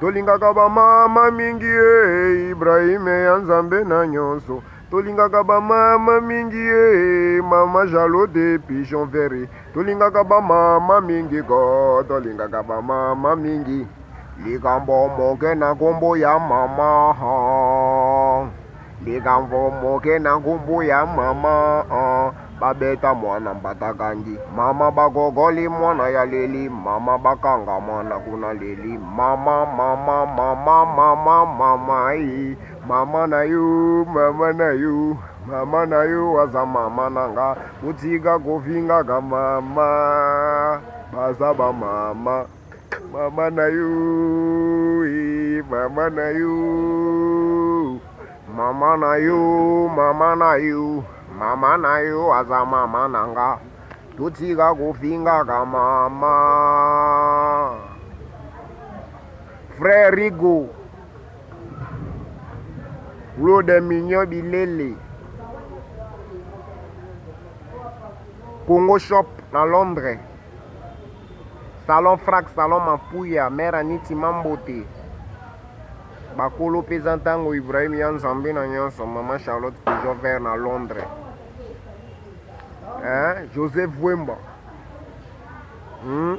Tolingaka ba mama mingi e Ibrahim ya Nzambe na nyonso tolingaka ba mama mingi e mama jalo de pigeon vere tolingaka ba mama mingi ko tolingaka ba mama mingi likambo moke na kombo ya mama Likambo moke na nkumbu ya mama ah, babeta mwana mbatakangi mama bagogoli mwana ya leli mama bakanga mwana kuna leli mama mama mama mama mama i mama na yo mama na yo mama na yo aza mama na nga botika kofingaka mama baza bamama Mama na yo, eh, mama na yo, mama na yo, mama na yo, mama na yo aza mama na nga, totika kofingaka mama. Frère Rigo, Claude Mignon Bilele, Congo Shop na Londres. Salon frac, salon mapuya, mère Aniti Mambote. Bakolo peza ntango Ibrahim ya Nzambe na nyonso, maman Charlotte toujours vers na Londres. Hein? Joseph Vwemba. Hmm?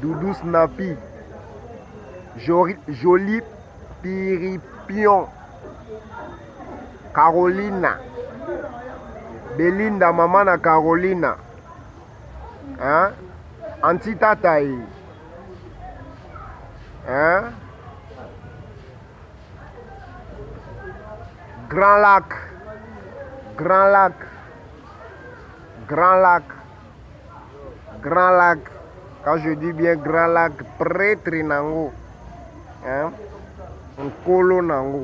Doudou Snappy. Jolie, Jolie Piripion. Carolina. Belinda maman na Carolina. hein anti tata ye hein grand lac grand lac grand lac grand lac quand je dis bien grand lac prêtre nango hein nkolo nango